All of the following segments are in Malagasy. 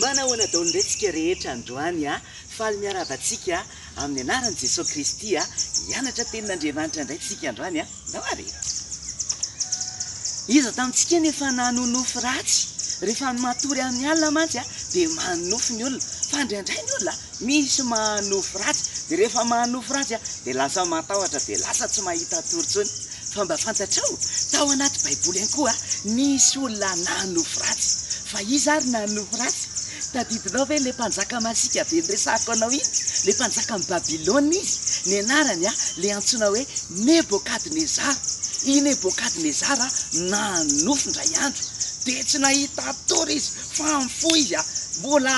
Manao ana daoly ndray tsika rehetra androany a! Faly miarahaba antsika amin'ny anaran'i Jesoa Kristy a! Hianatra tenin'Andriamanitra ndray tsika androany a! Ndao ary e! Iza tamintsika no efa nanonofy ratsy? Rehefa ny matory amin'ny alina mantsy a dia manonofy ny olona, fa ndraindray ny olona a misy manonofy ratsy, dia rehefa manonofy ratsy a dia lasa matahotra, dia lasa tsy mahita tory intsony. Fa mba fantatrao, tao anaty baiboly ihany koa nisy olona nanofy ratsy. Fa iza ary nanofy ratsy? Tadidinao ve ilay mpanjaka masiaka be niresahako anao iny? Ilay mpanjakan'i Babylona izy, ny anarany ilay antsoina hoe Nebokadnezara. I Nebokadnezara nanofy indray andro, dia tsy nahita tory izy fa nifoha izy, mbola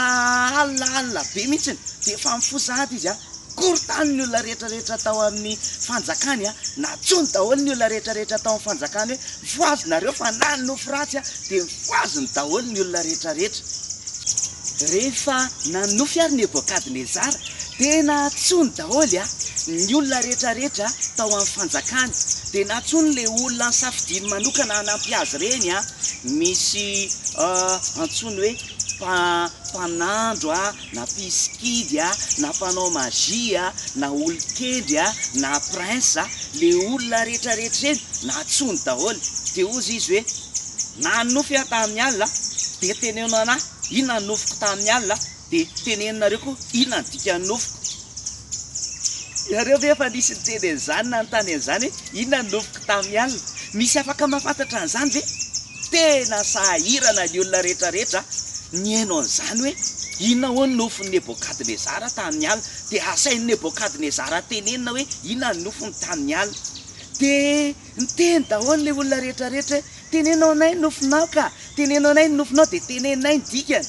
alina alina be mihitsy dia efa mifoha sahady izy. Korontany ny olona rehetra rehetra tao amin'ny fanjakany a! Natsoiny daholo ny olona rehetra rehetra tao amin'ny fanjakany hoe voazo nareo fa na ny nofy ratsy a dia voazony daholo ny olona rehetra rehetra. Rehefa nanofy ary Nebokadnezara dia natsoiny daholo a! ny olona rehetra rehetra tao amin'ny fanjakany dia natsoiny ilay olona nisafidiany manokana hanampy azy ireny a! misy antsoiny hoe mpa mpanandro a! na mpisikidy a, na mpanao magie a, na olon-kendry a, na prince a, le olona rehetra rehetra ireny nantsoiny daholo, de hozy izy hoe, nanonofy aho tamin'ny alina de teneno anah inona ny nofiko tamin'ny alina de teneno nareo koa inona ny dikan'ny nofiko, ianareo ve efa nisy niteny an'izany nanontany an'izany hoe inona ny nofiko tamin'ny alina? misy afaka mahafantatra an'izany ve? Tena sahirana ny olona rehetrarehetra nihaino an'izany hoe, Inona hoy ny nofin'i Nebôkadnezara tamin'ny alina? Dia asain'i Nebôkadnezara tenenina hoe inona ny nofiny tamin'ny alina. Dia niteny daholo ilay olona rehetrarehetra hoe, Teneno anay ny nofinao ka! Teneno anay ny nofinao! Dia teneninay ny dikany.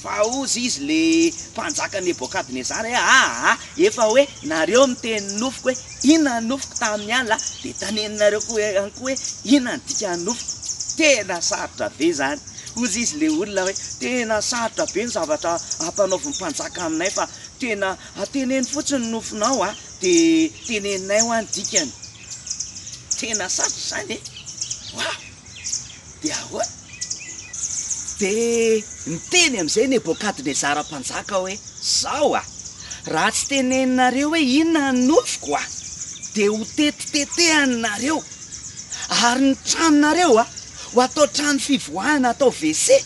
Vaozy izy ilay mpanjaka Nebôkadnezara hoe, Aa! Efa hoe nareo miteny ny nofiko hoe, Inona ny nofiko tamin'ny alina dia taneninareo koa ihany koa hoe inona ny dikan'ny nofiko. Tena sarotra be izany. Hozy izy ilay olona hoe tena sarotra be ny zavatra ampanaovin'ny mpanjaka aminay fa tena teneno fotsiny ny nofinao a dia teneninay hoa ny dikany. Tena sarotra izany e! Waouh! Dia ahoana? Dia niteny amin'izay Nebôkadnezara mpanjaka hoe, Izao a! Raha tsy teneninareo hoe inona ny nofiko a! dia ho tetitetehaninareo, ary ny tranonareo a! ho atao trano fivoahana, atao WC,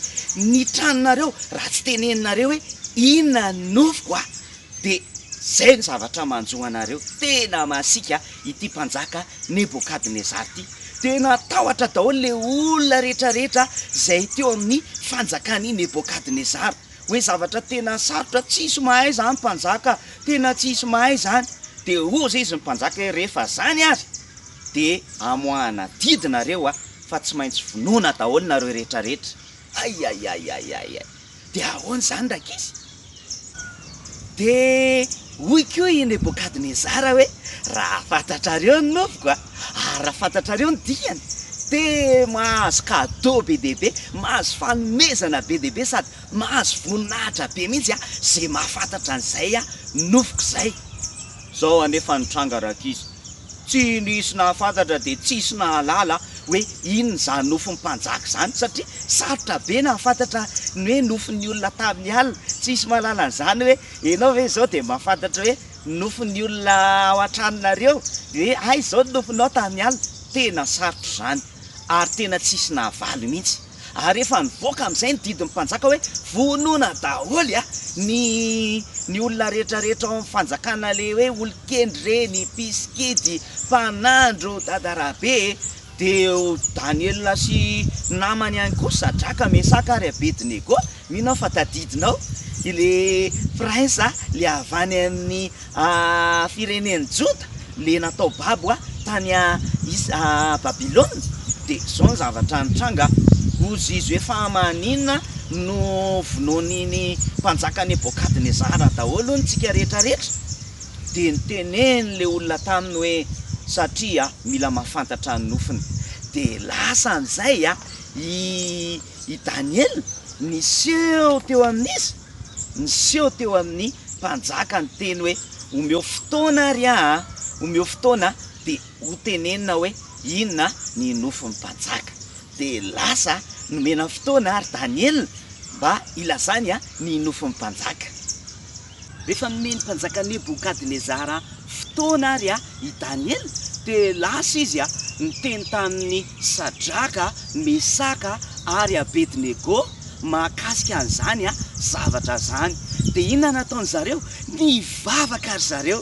ny tranonareo, raha tsy teneninareo hoe inona ny nofiko a! dia izay ny zavatra manjo anareo. Tena masiaka a! ity mpanjaka Nebokadnezara ity. Dia natahotra daholo ilay olona rehetrarehetra izay teo amin'ny fanjakan'i Nebokadnezara. Hoe zavatra tena sarotra, tsy hisy mahay izany mpanjaka, tena tsy hisy mahay izany. Dia hozy izy ny mpanjaka hoe rehefa izany ary dia amoahana didy nareo fa tsy maintsy vonoina daholo nareo rehetrarehetra. Ay ay ay ay ay ay! Dia ahoana izany rankizy? Dia hoy koa i Nebokadnezara hoe, Raha fantatrareo ny nofiko, ary raha fantatrareo ny diany, dia mahazo cadeau be dia be, mahazo fanomezana be dia be, sady mahazo voninahitra be mihitsy izay mahafantatra an'izay nofiko izay. Zao anefa ny tranga rankizy, tsy nisy nahafantatra dia tsisy nahalala hoe inona izany nofon'ny mpanjaka izany satria sarotra be nahafantatra ny hoe nofon'ny olona tamin'ny alina, tsy hisy mahalala an'izany hoe enao ve izao dia mahafantatra hoe nofon'ny olona ao an-tranonareo hoe hay izao ny nofonao tamin'ny alina, tena sarotra izany ary tena tsisy nahavaly mihitsy. ary efa nivoaka amin'izay ny didin'ny mpanjaka hoe vonoina daholo a ny ny olona rehetra rehetra ao amin'ny fanjakana le hoe olon-kendry reny mpisikidy mpanandro dada rabe e deo daniela sy namany ihany koa sadraka mesaka ary abedinego Mino aho fa tadidinao le prince le avy any amin'ny firenen'i Joda le natao babo tany Babylona de zao ny zavatra nitranga ozy izy hoe fa maninona no vonoin'iny mpanjaka Nebokadnezara daholo ny tsika rehetra rehetra de niteneny le olona taminy hoe satria mila mahafantatra ny nofiny de lasa an'izay i i Daniela, niseho teo amin'iza? Niseho teo amin'ny mpanjaka ny teny hoe, Omeo fotoana àry aho a! Omeo fotoana dia hotenenina hoe inona ny nofin'ny mpanjaka. Dia lasa nomena fotoana àry Daniela mba hilazany ny nofin'ny mpanjaka. Rehefa nomen'ny mpanjaka Nebokadnezara fotoana àry i Daniela, dia lasa izy niteny tamin'i Sadraka, Mesaka ary Abednego mahakasika an'izany zavatra izany. Dia inona no nataon-dry zareo? Nivavaka ry zareo.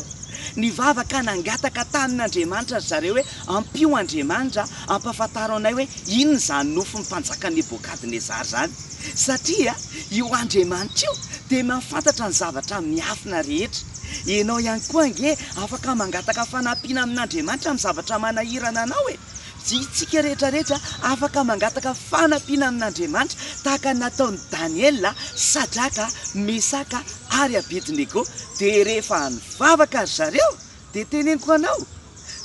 Nivavaka nangataka tamin'Andriamanitra ry zareo hoe, Ampio Andriamanitra hampahafantaro anay hoe inona izany nofin'ny mpanjaka Nebokadnezara izany. Satria io Andriamanitra io dia mahafantatra ny zavatra miafina rehetra. Ianao ihany koa ange afaka mangataka fanampiana amin'Andriamanitra amin'ny zavatra manahirana anao e! Isika rehetrarehetra afaka mangataka fanampiana amin'Andriamanitra tahaka ny nataon'i Daniela, Sadraka, Mesaka ary Abednego. Dia rehefa nivavaka ry zareo Dia teneniko anao,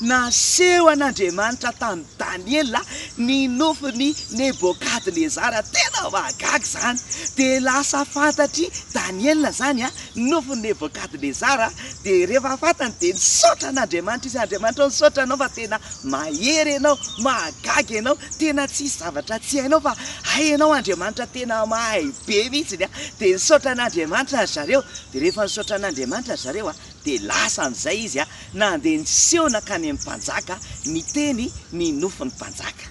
naseho an'Andriamanitra tamin'i Daniela ny nofin'i Nebokadnezara, tena mahagaga izany, dia lasa fantatr'i Daniela izany ny nofin'i Nebokadnezara, dia rehefa fantany dia nisaotra an'Andriamanitra izy, Andriamanitra o misaotra anao fa tena mahery ianao, mahagaga ianao, tena tsy hisy zavatra tsy hainao fa hay ianao Andriamanitra tena mahay be mihitsy, dia nisaotra an'Andriamanitra ry zareo, dia rehefa nisaotra an'Andriamanitra ry zareo, Dia lasa an'izay izy a, nandeha niseho nankany amin'ny mpanjaka, niteny ny nofin'ny mpanjaka.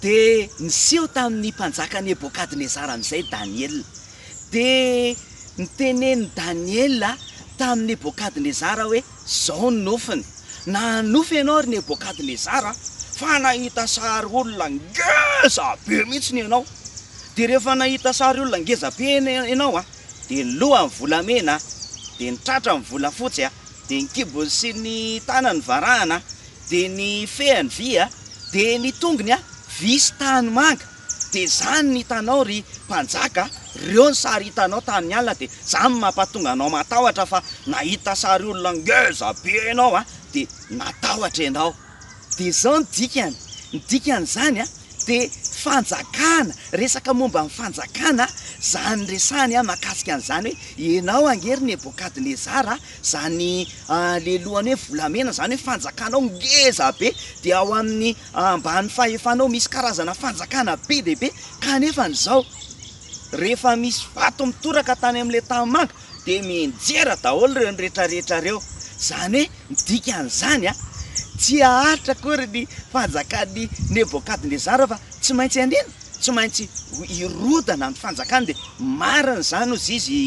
Dia niseho tamin'ny mpanjaka Nebokadnezara amin'izay Daniela. Dia nitenen'i Daniela tamin'i Nebokadnezara hoe, Izao ny nofiny, Nanofy ianao, ry Nebokadnezara, fa nahita sary olona ngeza be mihitsy ianao. Dia rehefa nahita sary olona ngeza be ianao, dia ny lohany volamena, dia ny tratrany volafotsy, dia ny kibony sy ny tanany varahina, dia ny fehiny vy, dia ny tongony vy sy tanimanga, dia izany no hitanao ry mpanjaka, ireo ny sary hitanao tamin'ny alina, dia izany no mampatonga anao matahotra fa nahita sary olona ngeza be ianao dia natahotra ianao. Dia izao no dikany, ny dikan'izany dia fanjakana, resaka momba ny fanjakana izany resahany mahakasika an'izany hoe ianao ange ry Nebokadnezara, izany lehilohany hoe volamena izany hoe fanjakanao ngeza be, dia ao amin'ny ambany fahefanao misy karazana fanjakana be dia be, kanefa izao rehefa misy vato mitoraka tany amin'ilay tanimanga, dia mianjera daholo ireo retraretra ireo. Izany hoe ny dikan'izany an, tsy haharitra akory ny fanjakan'i Nebokadnezara fa tsy maintsy hanino? Tsy maintsy hirodana ny fanjakany. Dia marina izany hozy izy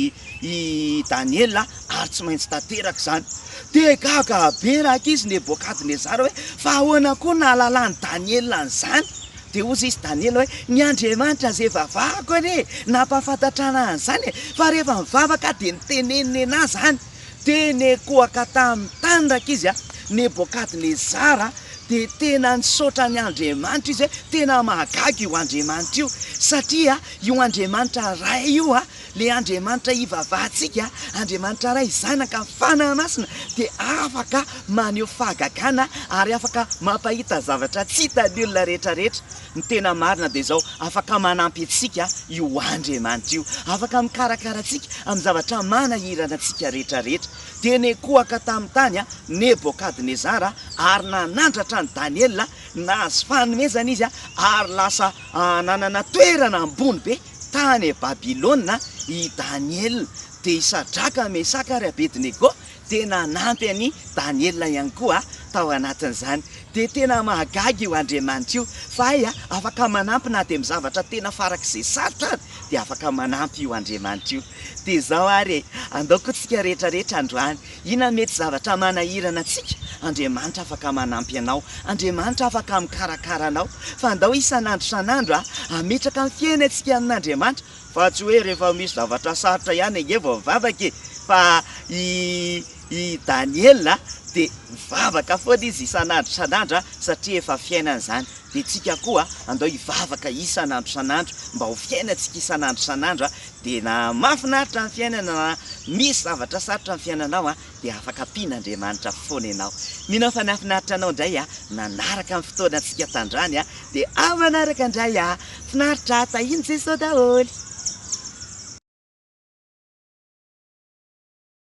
i Daniela an, ary tsy maintsy tanteraka izany. Dia gaga be rankizy Nebokadnezara hoe fa ahoana koa nahalalàn'i Daniela an'izany? Dia hozy izy Daniela hoe, Ny Andriamanitra izay vavahako anie nampahafantatrana ahy an'izany e, fa rehefa mivavaka aho dia ny teneny nenà izany dia nekoaka tamin'ny tany Rak'izy a Nebokadnezara dia tena nisaotra ny Andriamanitra izy hoe, Tena mahagaga io Andriamanitra io, satria io Andriamanitra Ray io a, Ilay Andriamanitra ivavahantsika, Andriamanitra Ray, Zanaka, ny Fanahy Masina, dia afaka maneho fahagagana ary afaka mampahita zavatra tsy hitan'ny olona rehetrarehetra. Ny tena marina dia izao, afaka manampy antsika io Andriamanitra io. Afaka mikarakara antsika amin'ny zavatra manahirana antsika rehetrarehetra. Dia nikohaka tamin'ny tany Nebokadnezara ary nanandratra an'i Daniela, nahazo fanomezana izy ary lasa nanana toerana ambony be. tany Babylona i Daniela, dia i Sadraka, Mesaka ary Abednego dia nanampy an'i Daniela ihany koa tao anatin'izany. Dia tena mahagaga io Andriamanitra io, fa hay a, afaka manampy na dia amin'ny zavatra tena farak'izay sarotra ary dia afaka manampy io Andriamanitra io. Dia izao ary e, andaokontsika rehetra rehetra androany, Ina mety zavatra manahirana antsika? Andriamanitra afaka manampy anao. Andriamanitra afaka mikarakara anao. Fa andao isan'andro isan'andro hametraka ny fiainantsika amin'Andriamanitra. Fa tsy hoe rehefa misy zavatra sarotra ihany ange vao mivavaka e! Fa i i Daniela dia mivavaka foana izy isan'andro isan'andro satria efa fiainany izany. Dia tsika koa andao hivavaka isan'andro isan'andro mba ho fiainantsika isan'andro isan'andro Tena mahafinaritra ny fiainana raha misy zavatra sarotra ny fiainanao a dia afaka ampiana Andriamanitra foana ianao. Mino aho fa nahafinaritra anao indray a nanaraka ny fotoana antsika tandrany a dia ao manaraka indray a! Finaritra a! Tahian'i Jesoa daholo.